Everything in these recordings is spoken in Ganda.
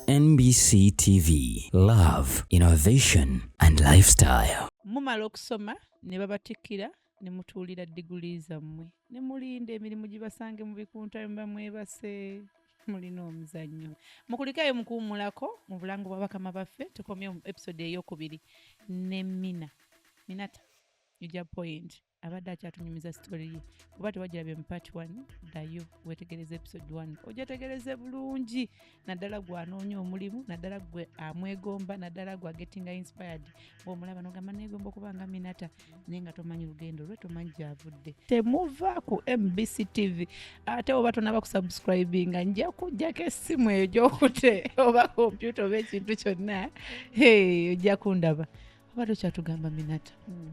NBC TV Love Innovation and Lifestyle mumala okusoma ne babatikkira ne mutuulira diguli zammwe ne mulinda emirimu gibasange mu bikunta muba mwebase mulina omuzannyo mukulikayo mukuwumulako mu bulango bwa bakama baffe tukomye mu episode eyokubiri ne mina minata uja point abadde akyatunyumiza sitori ye kuba tewagirabye mu part 1 ddayo wetegereza episode 1 ojategereze bulungi naddala gwe anoonya omulimu naddala gwe amwegomba naddala gwe agetinga inspired bwomulaba nogamba negomba okuba nga minata naye nga tomanyi lugendo lwe tomanyi gyavudde temuva ku mbc tv ate oba tonaba kusubscribinga nja kujjako essimu eyo gyokute oba kompyuta oba ekintu kyonna ojja kundaba oba tokyatugamba minata mm.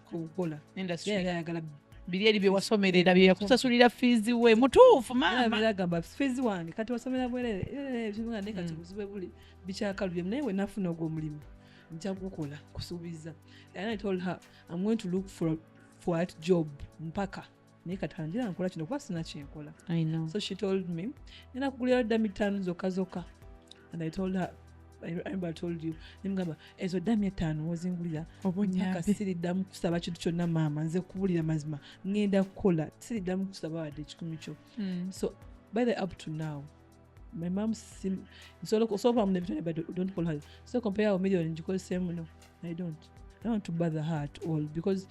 kukola industry yali ayagala biri eri byewasomerera byeyakusasulira fiizi we mutuufu maamaagamba fiizi wange kati wasomera bwerere eh, eh, nga naye kati mm. buzibe buli bikyakalubye naye we nafuna ogwo omulimu nja kukola kusuubiza and i told her i'm going to look for, for at job mpaka naye kati kanjira nkola kino kuba sina kyenkola so she told me nina kugulira dda mittaano zokka zokka and i told her remember told you nemugamba ezo ddamu ettaano wozingulira obonyaka siriddamu kusaba kintu kyonna maama nze kubulira mazima ngenda kukola siriddamu kusaba wadde ekikumi kyo hmm. so by the up to now my mom sim so look so from the but don't call her so compare our million because same no i don't i don't want to bother her at all because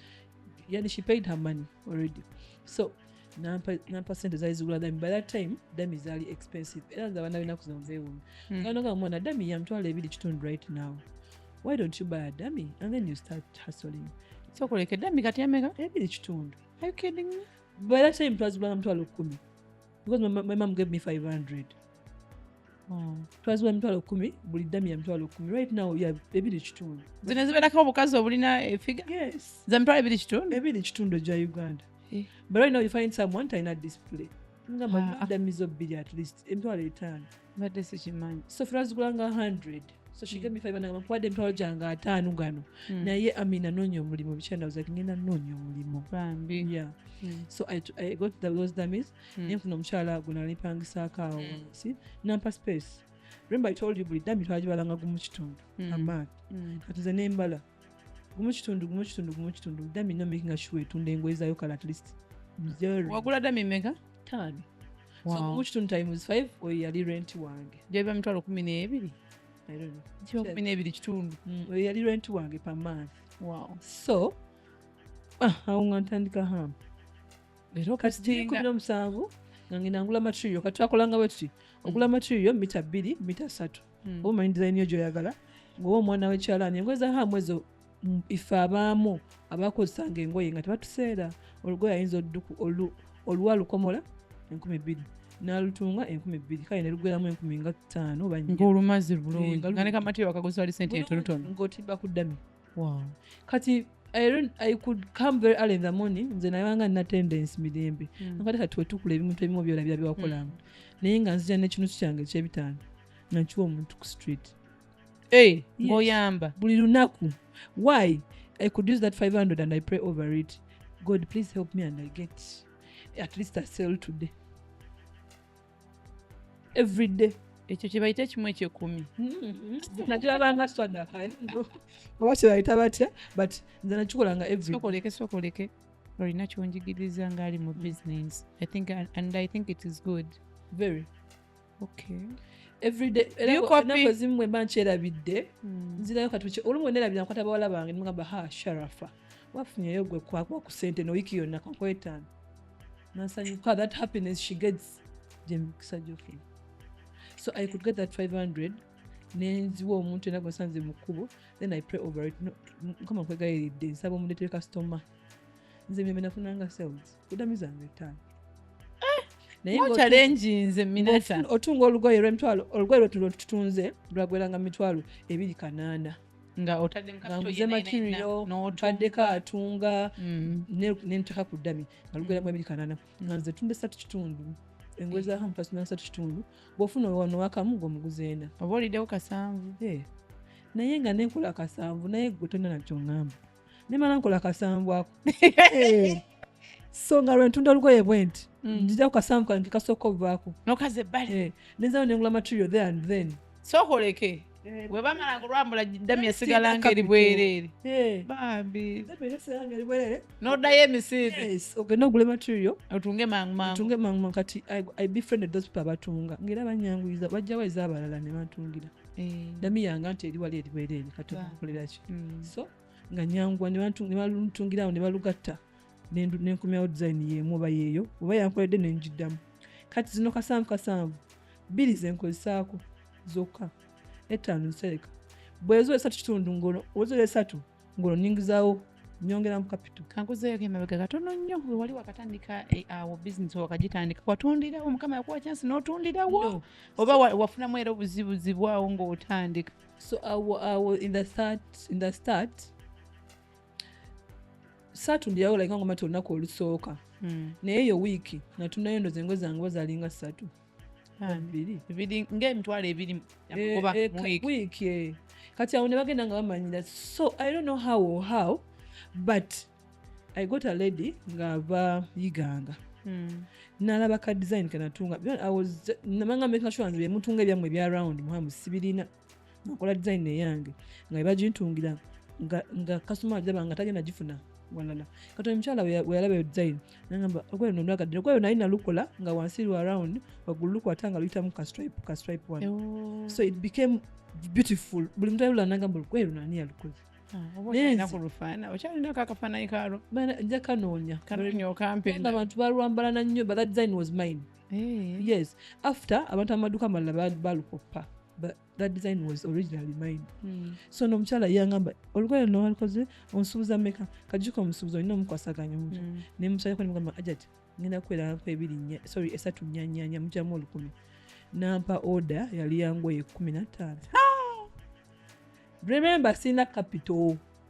yeah she paid her money already so nampa nampa sente zali zigula dami by that time dami zali expensive era nze abaana benaku zino nzeewuunya hmm. kanoga mwana dami yamtwala ebiri kitundu right now why don't you buy a dami and then you start hustling so kuleke dami kati yameka ebiri kitundu are you kidding me by that time twazigula namtwala kumi because my, my mom gave me 500 hmm. twaziwa emitwalo kumi buli dami ya mitwalo kumi right now ya ebiri kitundu zino zibeerako obukazi obulina efiga yes za mitwalo ebiri kitundu ebiri kitundu gya uganda eh. but right now you find someone talina display nga ah. madamizo bbiri at least emitwalo etaano mbadde sikimanyi sofula zigulanga 100 so she gave me five nagamba nkuwadde emitwalo gyange ataano gano Mm. naye amina noonya omulimu bikyandabuza ngenda noonya omulimu bambi yeah Mm. so i, t- I got the, those dummies Mm. mm. nfuna omukyala gwe nalipangisaako awo Mm. si nampa space remember i told you buli dami twagibalanga gumu kitundu Mm. amaati Mm. kati nze nembala gumu kitundu gumu kitundu gumu kitundu dami no making sure etunda engoye zayo kala at least mzero wagula dami mega tano wow. so gumu kitundu times 5 oyo yali rent wange jabiba mitwalo kumi n'ebiri kiba kumi n'ebiri kitundu mm, oyo yali rent wange per month wow. so ah, awo nga ntandika hamu leero kati kumi n'omusanvu nga ngenda ngula material kati twakolanga bwe tuti ogula mm. material mita bbiri mita satu hmm. oba omanyi dizayini yo gyoyagala ngaoba omwana wekyalaani engoye za hamu ezo mm, ife abaamu abakozesanga engoye nga tebatuseera olugoye ayinza oluwa lukomola enkumi bbiri nalutunga enkumi bbiri kale nelugweramu enkumi nga ttaano oba ngaolumazi bulungi nga ne kamatiro wakaguzi wali sente entonotono ngaotimba ku ddami wow. kati I, I could come very early in the morning nze nayanga nina tendence mirembe mm. nakati kati wetukula ebintu ebimu byola bya byakolanga mm. naye nga nzija nekinusu kyange ekyebitaano nakiwa omuntu ku street hey, eh, ngoyamba yes. buli lunaku why i could use that 500 and i pray over it god please help me and i get at least i sell today everyday ekyo kyebayita ekimu ekyekumi mm-hmm. nakirabanga sadaka oba kyebayita batya but nze nakikolanga everysokoleke sokoleke olina kyonjigiriza ngaali mu business i think and i think it is good very okay everydayzimu bwemba nkyerabidde hmm. nzirayo katuki olumu nerabira nkwata bawala bange nimugamba ha sharafa wafunyeyo gwe kwakwa ku sente nowiiki yonna kankwetaano nasanyuka that happiness she gets gye mikisa gyofuna so i could get that 500 nenziwa omuntu era gwesanze mu kkubo then i pray over it mukama nkwegayiridde nsaba omuletere kasitoma nze mirembe nafunanga sales kudami zange etaano otunga olugoye lwemitwalo olugoye lwetutunze lwagweranga mitwalo ebiri kanaana nga otaddemu kakuze materiyo ntaddeko atunga mm. nenteka ku ddami nga lugera mu ebiri kanana mm. nga nze tunda esatu kitundu engoye za hamu fasina esatu kitundu bwofuna wano wakamu ngaomuguzi ena oba oliddewo kasanvu eh. naye nga nenkola kasanvu naye gwe tonna nakyoŋamba nemala nkola kasanvu ako eh. so nga lwentunda olugoye bwenti mm. njija ku kasanvu kange kasooka obuvaako nokaze ebbali eh. nenzawo nengula material there and then sokoleke eh. webamala kulwambula damu esigala nga eri bwereere bambi nodayo emisiibi ogenda ogula material otunge mangumangutunge mangumangu kati i befriended those people abatunga ngaera banyanguyiza bajjawo ezaabalala ne batungira eh. nami yanga nti eri wali eri bwereere kati omukoleraki mm. so nga nyangwa nebalutungirawo nebalugatta nenkumyawo design yemu oba yeeyo oba yankoledde nenjiddamu kati zino kasanvu kasanvu bbiri zenkozesaako zokka ettaano nsereka bwezo esatu kitundu ngono ozo esatu ng'olwo nyingizaawo nyongera mu kapito kankuzeeyo kemabega katono nnyo wewali wakatandika eh, awo bizinesi wakagitandika watundirawo mukama yakuwa kyansi n'otundirawo oba wafunamu era obuzibuzibu awo ng'otandika so awo awo in the start, in the start saatundirawo like nga ngomati olunaku olusooka hmm. naye eyo wiiki natunayo ndoze engozi zange oba zalinga ssatu ngaemitwalo ebiri oba eh, eh, wiiki eh. kati awo ne bagenda nga bamanyira so i don't know how or how but i got a lady ng'ava yiganga hmm. nalaba ka design kenatunga namanga making sure nze byemutunga ebyammwe ebya round muhamu sibirina nakola design eyange nga ebagintungira nga kasuma ajaba nga tagenda gifuna walala kati omukyala weyalaba eyo design nagamba ogweyo nonwagaddira ogweyo naye nalukola nga wansi lwa round waggulu lukwata nga luyitamu ka stripe ka stripe one oh. so it became beautiful buli muntu ayolula nagamba olugweyo nani yalukola njakanonyabantu balwambalana nnyo but that design was mine eh. yes after abantu amaduka amalala balukoppa but that design was originally mine mm. so nomukyala yangamba olugoye luno walikoze onsubuza meka kajuka omusubuzi olina omukwasaganya omuja mm. naye mukyala ko nimugamba ajati ngenda kuweranko ebiri sorry esatu nyanyanya mujamu olukumi nampa order yali yangoye kumi nataano remember sirina capital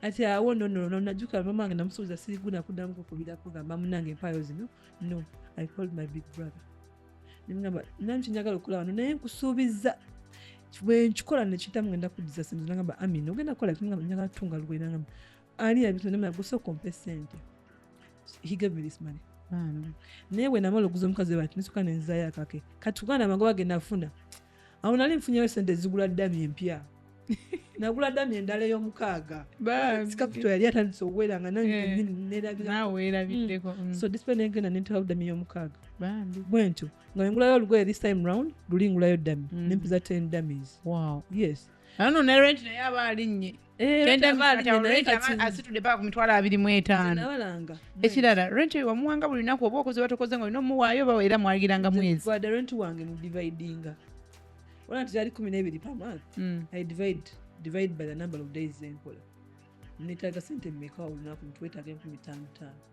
kati awo nonono najuka mama wange namusuubiza siriguna kuddamu kukubira kugamba munange empaayo zino no i called my big brother nemugamba nani kyenjagala okukola wano naye nkusuubiza bwenkikola nekiyitamu ngenda kuddiza sente nagamba amin ogenda kukola kimugamba njagala tutunga lugoye nagamba ani yabitonema gusooka ompe sente he gave me this money naye bwenamala okuza omukazi we bati nesoka nenzayo akake kati kugana amagoba genafuna awo nali nfunyeyo sente ezigula dami empya nagula dami endala eyomukaaga sikapito yali atandise okuwera nga nerabiddeko mm. mm. so dispe nengenda nenterawo dami eyomukaaga bwentyo nga nengulayo olugoye this time round luli ngulayo dami mm. nempiza ten damis yes ano nerenti naye aba alinnye ekirala rent wamuwanga buli lunaku oba okoze watokoze nga olina omuwaayo oba era mwalagiranga mwezi netaga sente meka olunaku ntwetaga enkumi tano tano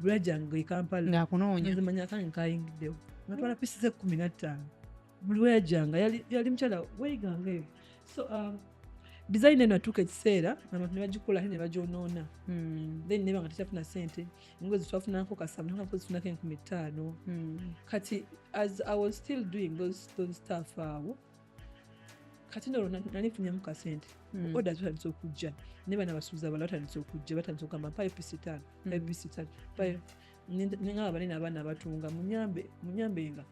lweyajanga ekampala ngaakunoonya nzimanya kange nkayingiddewo natwala pisi ze kumi nattaano buli weyajanga yali mukyala weyiganga eyo so um, design eno atuuka ekiseera abantu nebagikola ate nebagyonoona hmm. then neba nga tekyafuna sente ngo zitwafunako kasamuako zifunako enkumi ttaano hmm. kati as i was still doing those, those staff awo uh, kati nolwo nali nfunyamu kasente hmm. oda zitandise okujja ne bana basuuza bala batandise okujja batandise okugamba mpayo pisi tano mpayo hmm. pisi tano mpayo nengaba banene abaana abatunga munyambenga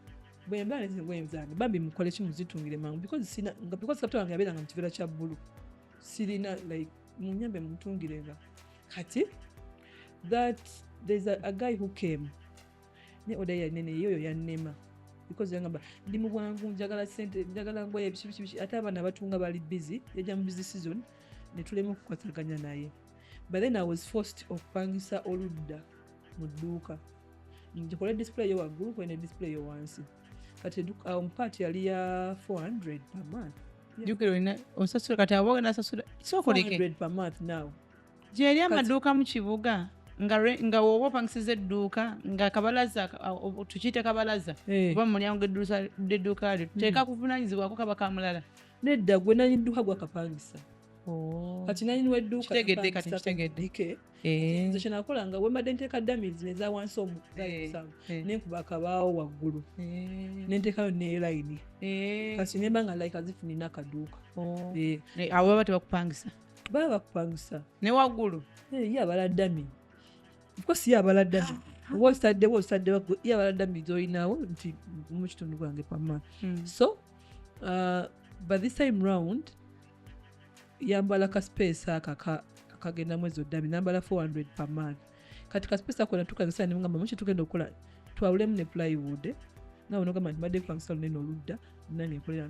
bwemba nezibwenzange bambi mukole ki muzitungire mangu because kapita wange yabeeranga mu kiveera kya bbulu sirina like munyambe mutungirenga kati that there's a, a guy who came ne oda ya nene yo ya nema because yangamba ndi mu bwangu njagala sente njagala ngoye ebisibisibisi ate abaana batunga bali busy yajja mu busy season ne tulema okukwataganya naye but then i was forced okupangisa oludda mu dduuka njikole display yo waggulu kwene display yo wansi kati awo mu part yali ya 400 per month jukira olina osasula kati abo ogenda asasula sokoleke 400 per month now gyeri amaduuka mu kibuga nga woba opangisiza edduuka nga kabalaza tukiyite kabalaza eh. oba mulyango gedduuka lyo hmm. teeka kuvunanyizibwako kaba kamulala nedda gwe nanyi dduuka gwakapangisa oh. kati nanyi wedduukategedde eh. nze kyenakola nga wembadde nteeka damiz neza wansi omusamu eh, nenkuba akabaawo waggulu nentekayo nelayini kati nemba nga like azifunina akaduuka oh. awo baba tebakupangisa baba bakupangusa ne waggulu eh, ye abala dami ofcourse ye abala dami ah. oba ositaddewo ositaddewo ye abala dami zolinawo nti mu kitundu gwange pama hmm. so uh, by this time round yambala ka space aka akagenda mwezi oddami nambala 400 per month kati ka space ako natukozesa nemugamba muki tugenda okukola twawulemu ne plywood nawe nogamba nti mbadde kupangisa lunene oludda nange nkolera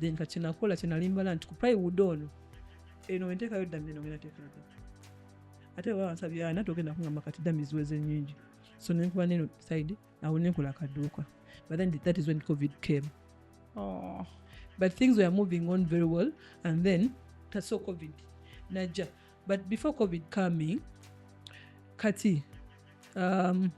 then kati kyenakola kyenalimbala nti ku plywood ono eno wentekayo dami eno ngenda tekeraga ate baba bansabye ana togenda kungamba kati dami ziweze nyingi so nenkuba neno side awo nenkola akaduuka but then that is when covid came oh. but things were moving on very well and then taso covid najja but before covid coming kati um,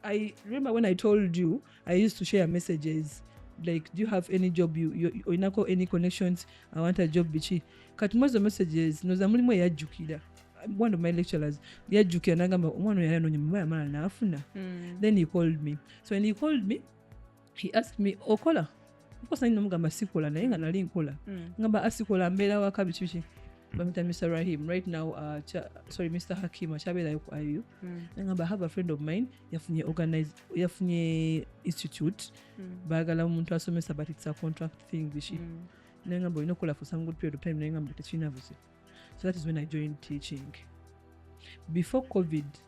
I remember when I told you I used to share messages like do you have any job you, you, oinako any connections I want a job bichi kati mwezo messages noza mulimu eyajjukira one of my lecturers yajjukira nagamba omwana oyo ayanonye mumaya amala naafuna mm. then he called me so when he called me he asked me okola okosa nina mugamba sikola naye nga nali nkola mm. ngamba asikola ah, mbeera waka biki biki bamita mr rahim right now uh, cha, sorry mr hakim akyabeerayo ku iu mm. ngamba i have a friend of mine yafunye organize yafunye institute mm. baagala omuntu asomesa but it's a contract thing bishi mm. naye ngamba olina okukola for some good period of time naye ngamba tekirina buzibu so that is when i joined teaching before covid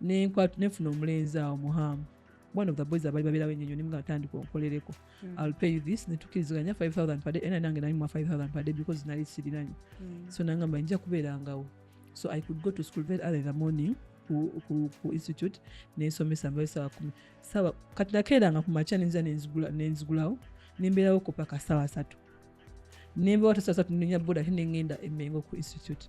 nenfuna omulenzi awo muhamu one of the boys abali babeerawo enyonyo nimu atandika onkolereko hmm. ill pay you this netukiriziganya 5000 pade era nange nalimwa 5000 pade because nali sirinanyo hmm. so nangamba nja kubeerangawo so i could go to school very early in the morning ku, ku, ku institute nensomesa mbayo sawa kumi sawa kati nakeeranga ku makya nenza nenzigulawo nembeerawo ko paka sawa satu nembeewo tasawa satu nenya boda ate nengenda emengo ku institute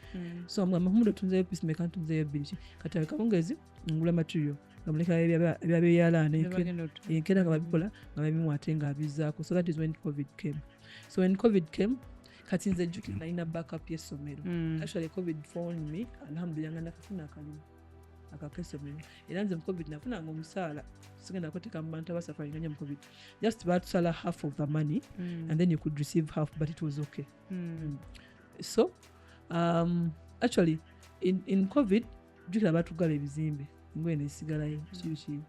mm. so nga mahumudo tunzeyo pisi meka ntunzeyo bbiri kati akawungezi ngula material nga muleka ebyabeyalaana enkera nga babikola nga babimu ate nga abizaako so that is when covid came so when covid came kati nze jjukira nalina backup y'essomero mm. actually covid phone me alhamdulillah nga nakafuna akalimu akakesomero era nze mucovid nafunanga omusaala sigenda koteka mubantu abasafaringa nyo mucovid just batusala half of the money mm. and then you could receive half but it was okay mm. Mm. so um, actually in, in covid jukira batugala ebizimbe ngoye nesigalayo kibiki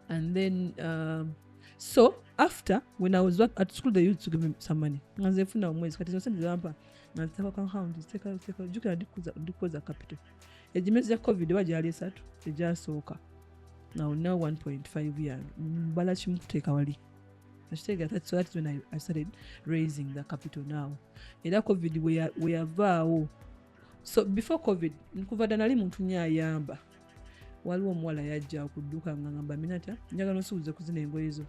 and then um, so after when i was work at school they used to give me some money nga nze nfuna omwezi kati zose ndizampa nga nziteka ku account nziteka nziteka jukira ndikuza- ndikukoza capital egimezi gya covid oba gyali esatu egyasooka now now 1.5 yange mbala kimu kuteeka wali nakitegeera that's what when I, I started raising the capital now era covid weyavaawo so before covid nkuva dda nali muntu nyo ayamba waliwo omuwala yajja okudduka nga ngamba minata njagala nsuubuze kuzina engoye zo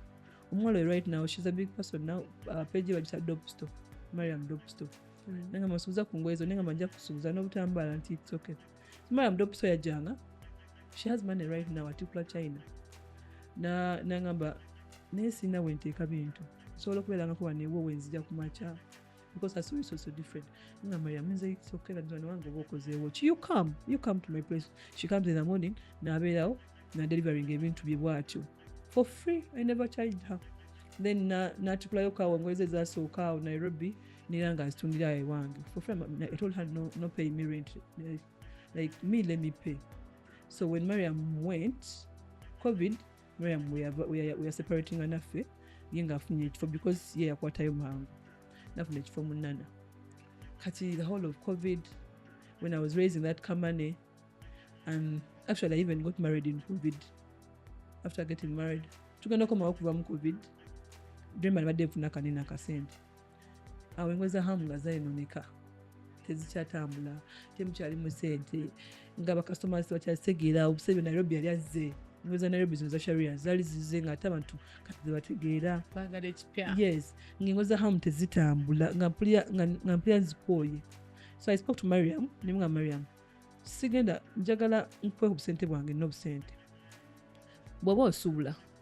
omuwala oyo right now she's a big person now uh, page bagisa dopsto mariam dopsto mm. nengamba nsuubuza ku ngoye zo nengamba nja kusuubuza n'obutambaala nti it's okay Maya mdope so yajanga. She has money right now atikula China. Na nangamba naye sina wenteeka bintu nsobola okubeerangako wano ewo wenzija ku makya because I saw you so, so different. Nga Maria means it's okay that one wangu woko ze watch. You come, you come to my place. She comes in the morning, na abelao, na delivering ebintu bye bwatyo. For free, I never charged her. Then na natukulayo kawo ngoze za so kawo Nairobi. Mm -hmm. nera nga azitundira ewange for free I told her no, no pay me rent like, like me let me pay so when Mariam went covid Mariam we are, we are, we are separating anaffe ye nga afunye ekifo because ye yakwatayo mangu nafuna ekifo munana kati the whole of covid when I was raising that company and actually I even got married in covid after getting married tugenda komawo kuva mu covid dream alibadde nfuna kanene akasente awo engo za hamu nga zayononeka tezikyatambula temukyalimu sente nga bakasitoma bakyazitegeera obuseebyo nairobi yali azze engo za nairobi zino za sharia zaali zize nga ate abantu kati zebategeera yes ngaengo za hamu tezitambula nga mpulira nzikooye so i spoke to mariam nemugamba mariam sigenda njagala nkuwe obusente bwange nobusente bwaba osuubula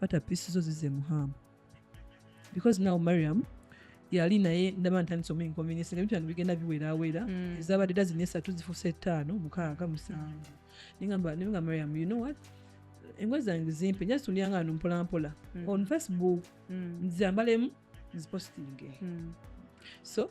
fata pisi zo zize muhamu because now mariam yali naye ndaba ntandisa omu inconvenience nga bitano bigenda biwerawera mm. ezabadde dazini esatu zifusa ettaano mukaaga musanvu nengamba nenga mariam you know what engozi zange zimpe just ulyanga no mpola mpola mm. on facebook mm. nzambalemu nzipostinge mm. so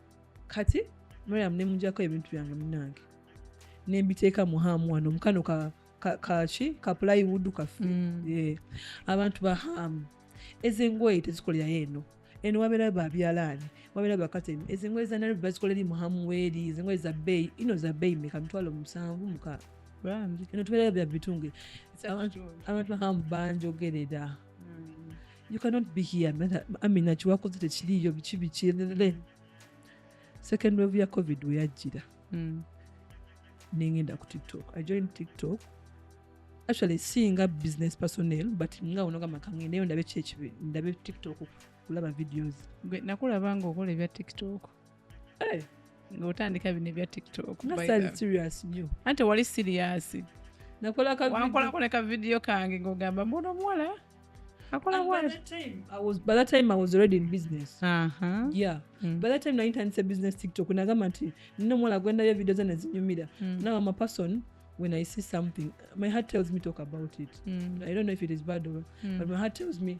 kati mariam nemujako ebintu byange munange nembiteeka mu haamu wano mukano ka kaki ka plywood kafe mm. abantu ba haamu ezengoye tezikolerayo eno eno wabeerayo babyalaani wabeerayo bakatemi ezengoye za nairobi bazikolera eri mu haamu weeri ezengoye za bbeeyi ino za bbeeyi meka mitwalo musanvu mukaaga eno tubeerayo bya bitungire abantu ba haamu banjogerera mm. you cannot be here amina kiwakoze tekiriiyo biki bikirere second wave ya covid weyajjira mm. nengenda ku tiktok i join tiktok actually singa business personnel but nga onogamba kangendeyo ndabe kyekibindabe tiktok kulaba videos nakulaba nga okola ebya tiktok hey. Eh, ngaotandika bino ebya tiktokanti wali siriyasi wankolako ne kavidiyo kange ngaogamba mbona omuwala nayintandise business tiktok nagamba nti nina omuwala gwendayo vidio ze nezinyumira hmm. nawe amapason when I see something, my heart tells me talk about it. Mm. I don't know if it is bad or, mm. but my heart tells me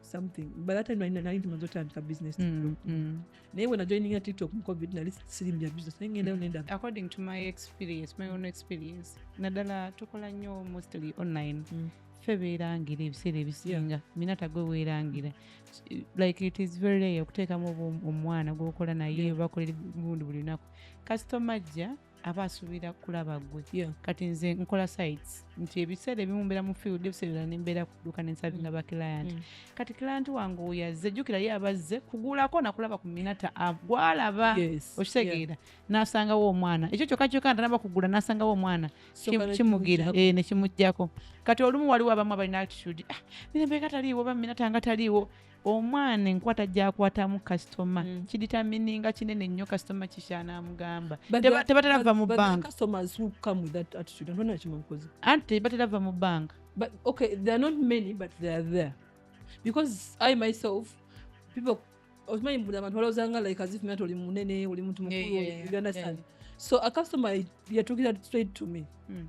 something by that time nali nali tumaze otandika business Mm, mm. naye bwe najoininga tiktok mu covid nali sirimu bya business naye ngendayo nenda according to my experience my own experience naddala tukola nnyo mostly online Mm. ffe beerangira ebiseera ebisinga minata gwe weerangira like it is very rare okuteekamu obu- omwana gwokola naye bakolera gundi buli lunaku kasitoma ajja aba asuubira kulaba gwe yeah. kati nze nkola sites nti ebiseera ebimu mbeera mu field ebiseera nembeera kuduka nensabinga mm. ba client mm. kati client wange oyo azze jjukira ye abazze kugulako nakulaba ku minata gwalaba yes. okitegeera yeah. nasangawo omwana ekyo kyokka kyokka ntanaba kugula nasangawo omwana kimugira e, eh, nekimujjako kati olumu waliwo abamu abalina attitude ah, mirembe nga taliiwo oba minata nga taliiwo omwana enkwata gyakwatamu kasitoma mm. kiditamininga kinene nnyo kasitoma kikyana amugamba tebatera va mu banka anti tebatera va mu banka because i myself people okimanyi buli abantu balowooza nga like as if nati oli munene oli muntu mukulu you understand so a customer yatuukira straight to me mm.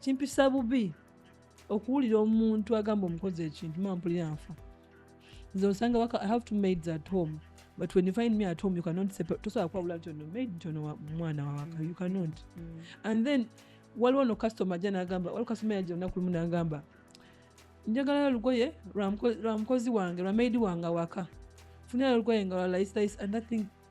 kimpisa bubi okuwulira omuntu agamba omukozi ekintu mampulira nfa nze osanga waka i have two maids at home but when you find me at home you cannot tosobola kwawula nti ono maid nti ono mwana wawaka you cannot mm. and then waliwo no customer ajja nagamba waliwo customer yajja olunaku lumu nagamba njagala lugoye lwa mukozi wange lwa maidi wange awaka funira lugoye nga lwa laisilais and that thing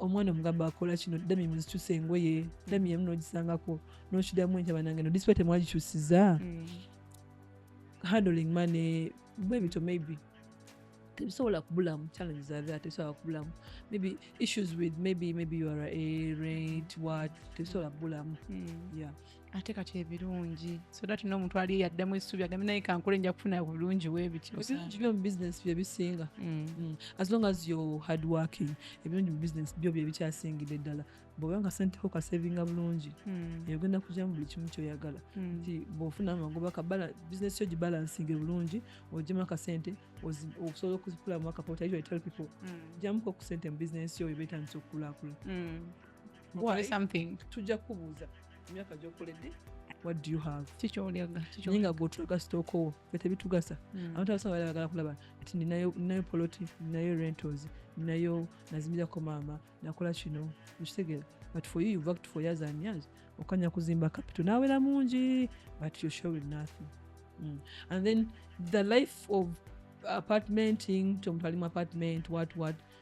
omwana omugamba akola kino dami muzikyusa engoye dami emu nogisangako nokidamu enkya banange no disipa temwagikyusiza mm. handling mane bwebito maybe tebisobola kubulamu challenges are there tebisobola kubulamu maybe issues with maybe maybe you are a rate what tebisobola kubulamu mm. yeah ate kati ebirungi so that n'omuntu ali yaddamu essuubi agambe naye kankole nja kufuna bulungi webityoebirungi byo mu business bye bisinga mm. Mm. as long as yo hard working ebirungi mu business byo bye bikyasingidde ddala bwoba nga senteko kasevinga bulungi mm. eyogenda kujja mu buli kimu kyoyagala nti bwofuna amagoba kabala business yo gibalansinge bulungi ojemu akasente osobola okuzikulamu akapota usually tell people jamuko ku sente mu business yo ebetandisa okukulakula tujja kubuuza emyaka gyokoledde what do you have kikyolyaga naye nga gwotulaga sitookowo fe tebitugasa hmm. abantu abasinga bali bagala kulaba nti ninayo poloti ninayo rentals ninayo nazimbirako maama nakola kino ekitegeera but for you worked for years and years okanya kuzimba capital nawera mungi but you're showing nothing mm. and then the life of apartmenting tomuntu alimu apartment what what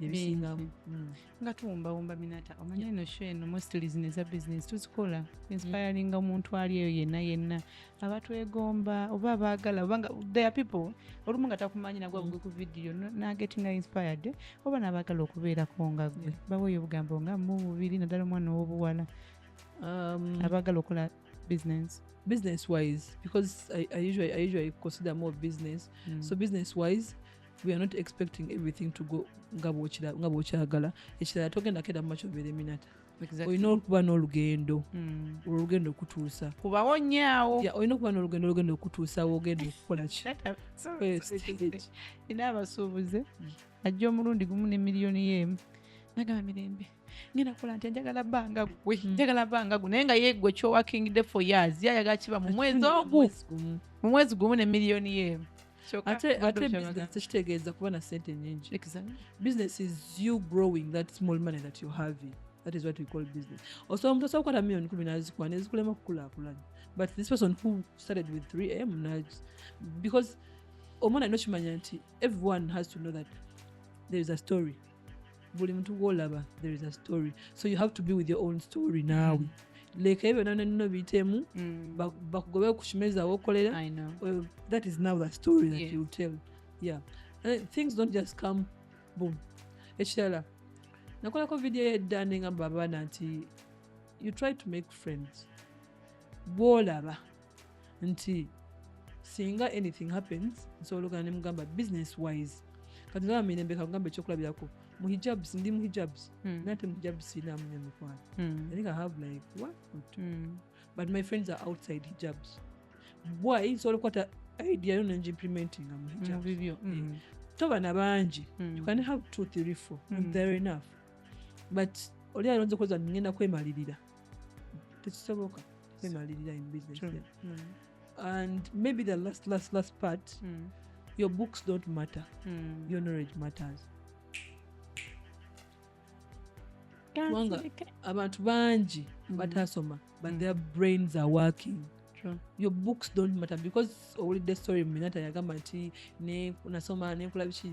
ebiyingamu mm. nga tuwumbawumba minata omanya eno sho eno mostly zino eza business tuzikola inspiringa mm. omuntu ali eyo yenna yenna abatwegomba oba abaagala obanga there people olumu nga takumanyi nagwa mm. bugwe ku vidiyo nagetinga inspired oba nabaagala okubeerako nga gwe baweeyo obugambo nga mu bubiri naddala omwana ow'obuwala um, abaagala okola business business wise because I, I usually I usually consider more business mm. so business wise we are not expecting everything to go nga bwokyagala ekirala togenda keda mumakyo obeera eminata olina okuba n'olugendo hmm. olugendo okutuusa kubawo nyaawo olina okuba n'olugendo olugendo okutuusa wogenda okukola ki ina abasuubuze hmm. ajja omulundi gumu ne miliyoni yeemu nagamba mirembe ngenda kukola nti njagala banga gwe hmm. njagala banga gwe naye nga yegwe kyowa king de for years yayagala kiba mu mwezi ogu mu mwezi gumu ne miliyoni yeemu Kyoka ate ate badde bukyagala. business tekitegeeza kuba na sente nyingi Exactly. business is you growing that small money that you're having that is what we call business osobola omuntu osobola okukwata million kumi nazikuwa nezikulema okukulakulanya but this person who started with 3m naj- because omwana alina okimanya nti everyone has to know that there is a story buli muntu gwolaba there is a story so you have to be with your own story naawe mm. leka ebyo byona nino biyitemu mm. bakugobe kukimeeza wokolera that is now the story that you tell yeah uh, things don't just come boom ekirala nakolako vidiyo yedda nengamba abaana nti you try to make friends bwolaba nti singa anything happens nsobola ogana ne mugamba business wise kati ndaba mirembe kakugamba ekyokulabirako mu hijabs ndi mu hijabs hmm. nate mu hijabs sirinamu nyo mikwano hmm. i think i have like one or two hmm. but my friends are outside hijabs bwayi nsobola okukwata idea yo nengimplementinga mu hijabs eh, toba na bangi you can have two three four mm. there enough but oli alonze kuweza ngenda kwemalirira tekisoboka kwemalirira in business hmm. and maybe the last last last part mm. your books don't matter mm. your knowledge matters kubanga abantu bangi hmm. batasoma but hmm. their brains are working True. your books don't matter because owulidde story minata yagamba nti nasoma nenkula biki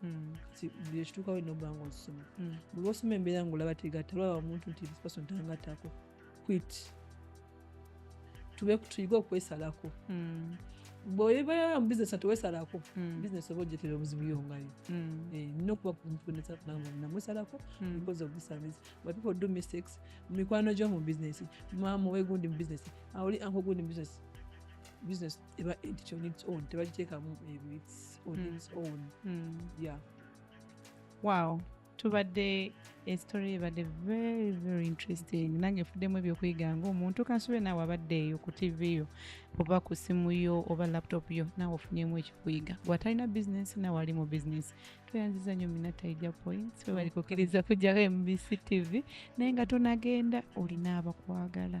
Hmm. ekituukawo ino oba nga osoma hmm. buli osoma embeera nga olaba tegatta olaba omuntu nti this person tangattako quit tube tuyige okwesalako hmm. bwebeera mu bizinesi tewesalako bizinesi oba ojetera obuzibu yongayo eh, nina okuba namusalako because of this service but people do mistakes mu mikwano gyo mu bizinesi maama owegundi mu bizinesi awuli anko gundi mu bizinesi business eba edit on its own tebagiteekamu ebyo its on mm. its own mm. yeah wow tubadde estory ebadde very very interesting nange efuddemu ebyokuyiga ngaomuntu kansube naawe abadde eyo ku tv yo oba ku simu yo oba laptop yo naawe ofunyemu ekikuyiga gwatalina bizinesi naawe ali mu bizinesi tweyanziza nyo mina taija points webali kukiriza kujjako mbc tv naye nga tonagenda olina abakwagala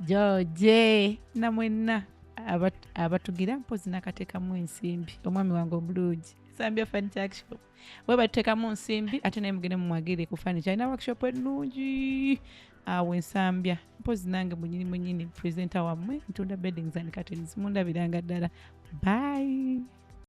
george na mwenna abat- abatugira mpozi nakatekamu ensimbi omwami wange omulungi sambya furniture workshop we batutekamu nsimbi ate naye mugende mumwagire ku furniture alina workshop ennungi awo ensambya mpozi nange munyini munyini presenter wammwe ntunda beddings and curtains mundabiranga ddala bye